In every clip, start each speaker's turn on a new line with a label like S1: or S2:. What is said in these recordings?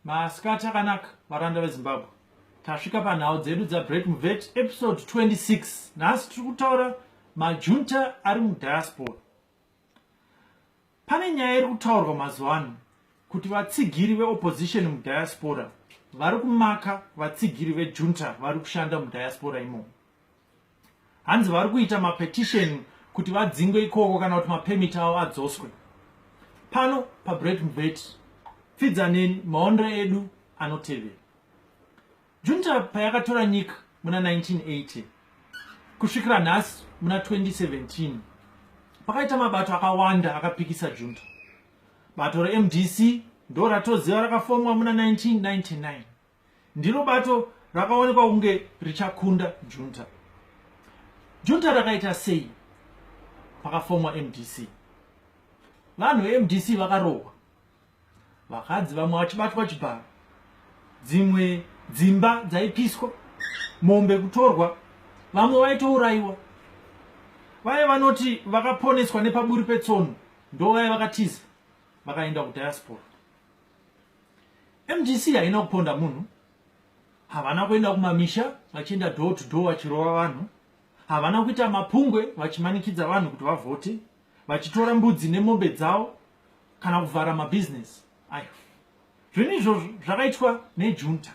S1: masikati akanaka varanda vezimbabwe tasvika panhau dzedu dzabreak muvet episode 26 nhasi tiri kutaura majunta ari mudiaspora pane nyaya iri kutaurwa mazuva ano kuti vatsigiri veopposition mudiaspora vari kumaka vatsigiri vejunta vari kushanda mudiaspora imomo hanzi vari kuita mapetition kuti vadzingwe ikoko kana kuti mapemit avo adzoswe pano pabread mbet pfidza neni maonero edu anotevera junta payakatora nyika muna 1980 kusvikira nhasi muna 2017 pakaita mabato akawanda akapikisa junta bato remdc ndo ratoziva rakafomwa muna 1999 ndiro bato rakaonekwa kunge richakunda junta junta rakaita sei pakafomwa mdc vanhu vemdc vakarohwa vakadzi vamwe vachibatwa chibharo dzimwe dzimba dzaipiswa mombe kutorwa vamwe vaitourayiwa vaye vanoti vakaponeswa nepaburi petsono ndovaya vakatiza vakaenda kudiaspora mdc haina kuponda munhu havana kuenda kumamisha vachienda door to door vachirova vanhu havana kuita mapungwe vachimanikidza vanhu kuti vavhote vachitora mbudzi nemombe dzavo kana kuvhara mabhizinesi ayo zvinhu izvozvo zvakaitwa nejunta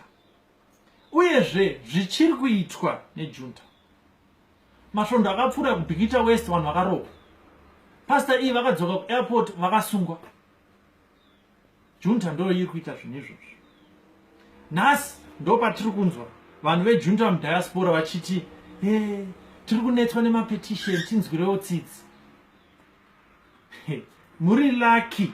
S1: uyezve zvichiri kuitwa nejunta masvondo akapfuura kubhikita west vanhu vakarohwa pasta iyi vakadzoka kuairport vakasungwa junta ndo iri kuita zvinhu izvozvo nhasi ndo patiri kunzwa vanhu vejunta mudiaspora vachiti e eh, tiri kunetswa nemapetition tinzwirewo tsitsi muri lucky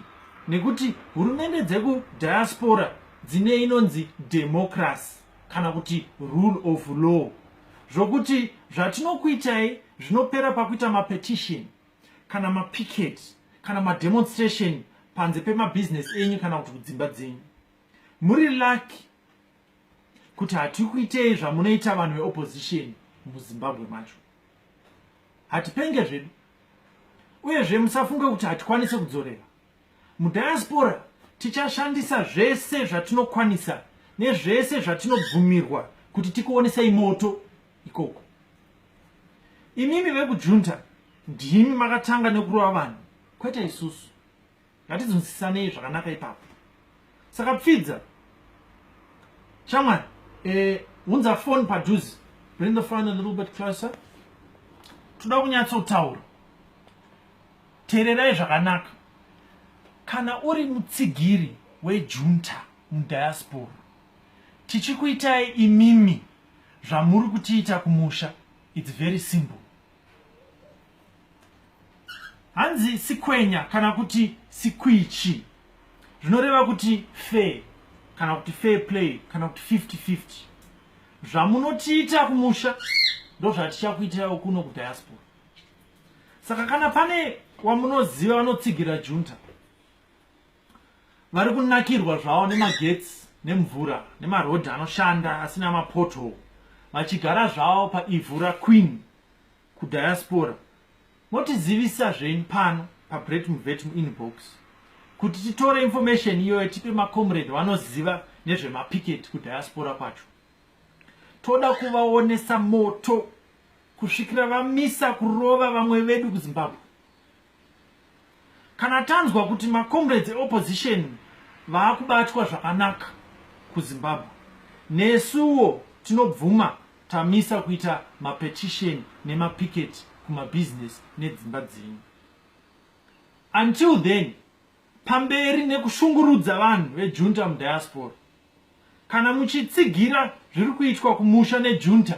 S1: nekuti hurumende dzekudiaspora dzine inonzi democracy kana kuti rule of law zvokuti zvatinokuitai zvinopera pakuita mapetition kana mapicket kana mademonstration panze pemabusiness enyu kana kuti kudzimba dzenyu muri lucky kuti hatikuitei zvamunoita vanhu veopposition muzimbabwe macho hatipenge zvedu uyezve musafunge kuti hatikwanise kudzorera mudiaspora tichashandisa zvese zvatinokwanisa nezvese zvatinobvumirwa kuti tikuonesei moto ikoko imimi vekujunta ndimi makatanga nekurova vanhu kwete isusu ngatidzinzisanei zvakanaka ipapo saka pfidza shamwari eh, unza e, foni padhuze bring the fine a little bit closer toda kunyatsotaura teererai zvakanaka kana uri mutsigiri wejunta mudiaspora tichikuitai imimi zvamuri kutiita kumusha its very simple hanzi sikwenya kana kuti sikwichi zvinoreva kuti fair kana kuti fair play kana kuti 5050 zvamunotiita kumusha ndozvatichakuitirawo kuno kudiaspora saka kana pane wamunoziva vanotsigira junta vari kunakirwa zvavo nemagetsi nemvura nemarodhi anoshanda asina mapoto vachigara zvavo paivhu raqueen kudiaspora motizivisa zvenyu pano pabret muvet muinbox kuti titore information iyoyo tipe macomrade vanoziva nezvemapicket kudiaspora kwacho toda kuvaonesa moto kusvikira vamisa kurova vamwe vedu kuzimbabwe Kana tanzwa kuti macomrades eopposition vaakubatwa zvakanaka kuzimbabwe nesuwo tinobvuma tamisa kuita mapetition nemapicket kumabusiness nedzimba dzenyu until then pamberi nekushungurudza vanhu vejunta mudiaspora kana muchitsigira zviri kuitwa kumusha nejunta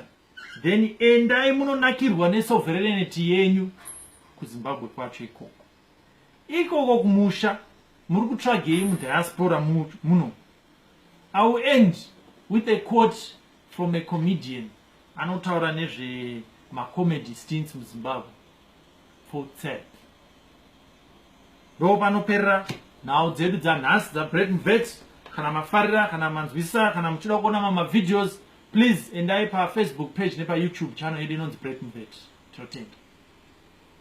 S1: then endai munonakirwa nesoverenity yenyu kuzimbabwe kwacho ikoko ikoko kumusha muri kutsvagei mudiaspora muno i will end with a quote from a comedian anotaura nezvemacomedy stints muzimbabwe futsek ndo panoperera nhau dzedu dzanhasi dzabreaking vet kana mafarira kana manzwisisa kana muchida kuona mamwe mavideos please endai pafacebook page nepayoutube channel yedu inonzi breaking vet tinotenda